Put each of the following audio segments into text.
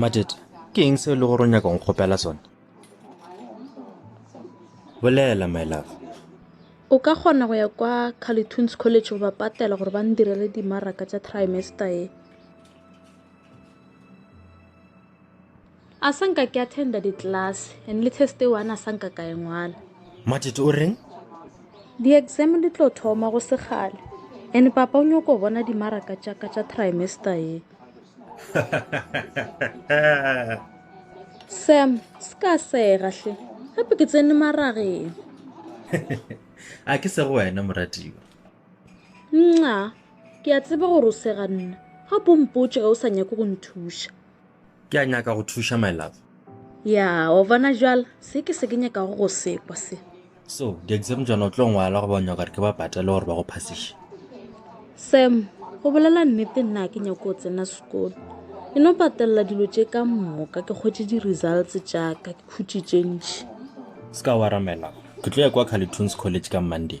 Matet, ke eng seo le gore o nyaka go kgopela sone? Bolela, my love. O ka kgona go ya kwa Calitoons College go ba patela gore ba ndirele dimaraka tša trimester e. a sa nka ke attenda di-class and le test e one a sa nka ka e ngwala matete o reng di-exam di tlo thoma go segale and papa o nyoko bona dimaraka tšaka tša trimester ye sam se ka sega hle gape ke tsene marageng a ke sego wena moratiwa nxa ke a tseba gore o sega nna ga pompotše ge o sa nyake go nthuša Ke a nyaka go thuša, my love. Ya, o bona jwala, se ke se ke nyakago go sekwa se. So, di-exam tšona o tlo ngwala go ba nyaka gore ke ba patele gore ba go phasiše. Sam, go bolela nnete nna ke nyako o tsena sekolo e no patelela dilo tše ka mmoka ke kgwetse di-results tšaka ke khutše tše ntšhi se ka waramela ke tlo ya kwa calitunes college ka monday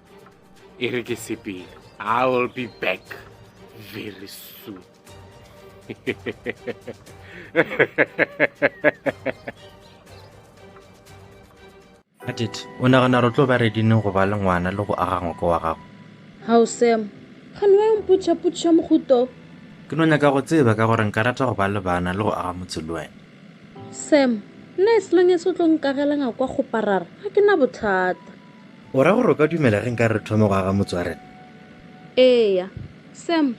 e re ke sepele i will be back very soon atit o nagana re tlo ba redineng go ba le ngwana le go aga ngoko wa gago gao sam kgane wa yompotšhapotšha mohuto ke no nyaka go tseba ka gore nka rata go ba le bana le go aga motse le wena sam nna e selong e se o tlo nkagelanga kwa kgoparara ga ke na bothata O ra gore o ka dumela ge nka re thome go aga motswarela? Eya. Sam,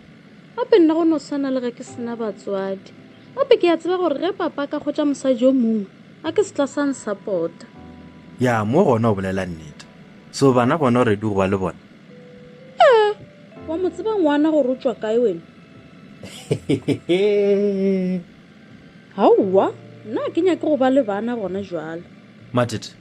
gape nna go no swana le ge ke sena batswadi. Gape ke a tseba gore ge papa a ka kgwetša mosadi yo mongwe, a ke se tla sa nsapota. Ya, mo gona o bolela nnete. So bana bona o redu go ba le bona? Ee. Wa mo tseba ngwana gore o tšwa kae wena? Aowa, nna a ke nyake go ba le bana gona jwale. Mathete,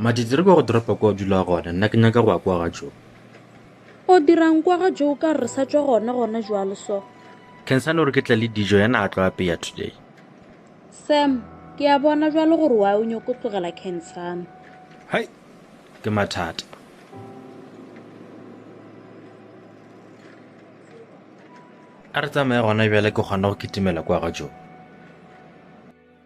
Madidiri kwa go dropa kwa o dula gona nna ke nyaka go ya kwa ga jo o dirang kwa ga jo o ka re sa tswa gona gona jwalo so kensane gore ke tla le dijo yana a tlo apeya today sam ke a bona jwalo gore wa o nyoko tlogela kensane hai ke mathata a re tsamaye gona bjale ke kgona go kitimela kwa ga jo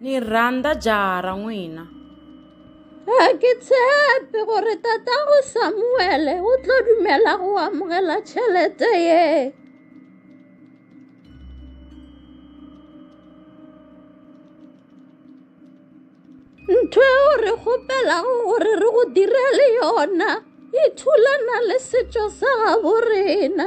ni rhandza jaha ra n'wina ga ke tshepe gore tatago samuele o tlo dumela go amogela tšhelete ye ntho eo re kgopelago gore re go direle yona e thulana le setšo sa gabo rena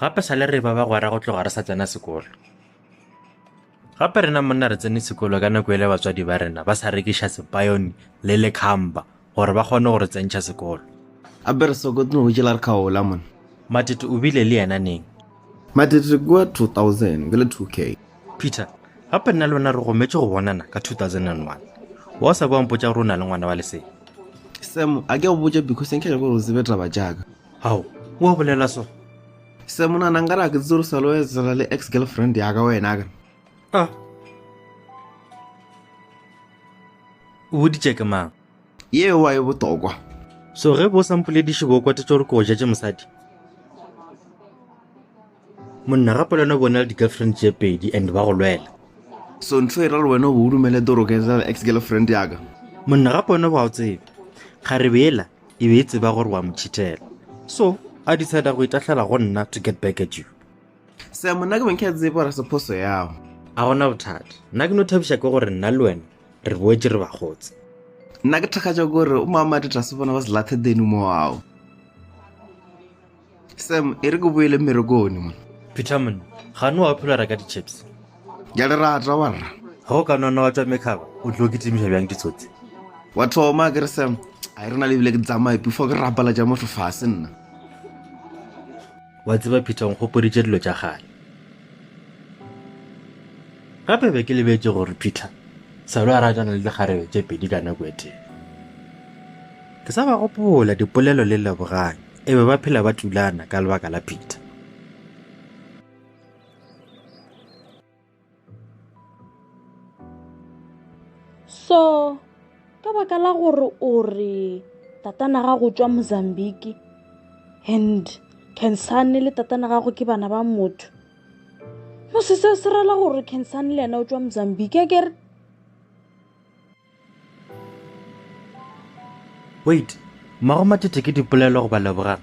gape sa le re ba bagwera go tloga re sa tsena sekolo gape rena monna re tsene sekolo ka nako ele batswadi ba rena ba sa rekiša sepayone le lekhamba gore ba kgone go re tsentšha sekolo a be re sokotno go jela re kgaola mona matete o bile le yena neng matete re kua 2000 ke le 2k peter gape nna le wena re gometše go bonana ka 2001 wa o sa kwa mpotša gore o na le ngwana wa lesee semo a ke go botša because nke ke gore o tsebe taba jaaka ao o a bolela so se monana nka ra ke tse re salo etsela le ex girlfriend ya ka wena ka a o boditše ke mang yeo wa e botokwa so ge bo sa mpolediše bo kwate tso re ko ja tše mosadi monna ga polano bona le di-girlfriend tše pedi and ba go lwela so ntho e ra le wena o bo o dumele doroke etsela le ex girlfriend ya ka monna ga pone ba o tsebe ga re bela e be e tseba gore wa mo cheatela so a decide go itahlela go nna to get back at you se monna ke beng ke a tsebe gore se phoso yago a gona bothata nna ke no thabiša ke gore nna le wena re boetse re bagotse nna ke thakgatša kore o maamadi tlase bona ba selathe denu mo ao sam e re ke boele mmerekone mo peterman ga ne wa phela reka di-chips ke a le rata wa rra ga o ka nona wa tšwa mekgaba o tlo ke timiša bjang ditsotsi wa thoma ke re sam a e re na le ebile ke tsamaye before ke rapala ja motho fase nna wa tseba peter nkgopoditše dilo tša gale gape be ke lebetse gore peter salo a ratana le dikgarebe tše pedi ka nako e tee ke sa ba gopola dipolelo le leboganyo E be ba phela ba tulana ka lebaka la Peter. So, ka baka la gore o re tatana ga go tswa Mozambique and Kensane le tatana gago ke bana ba motho. Mo se se se rela gore Kensane le yena o tswa Mozambique, a kere? wait mmago matete ke dipolelo goba lebogang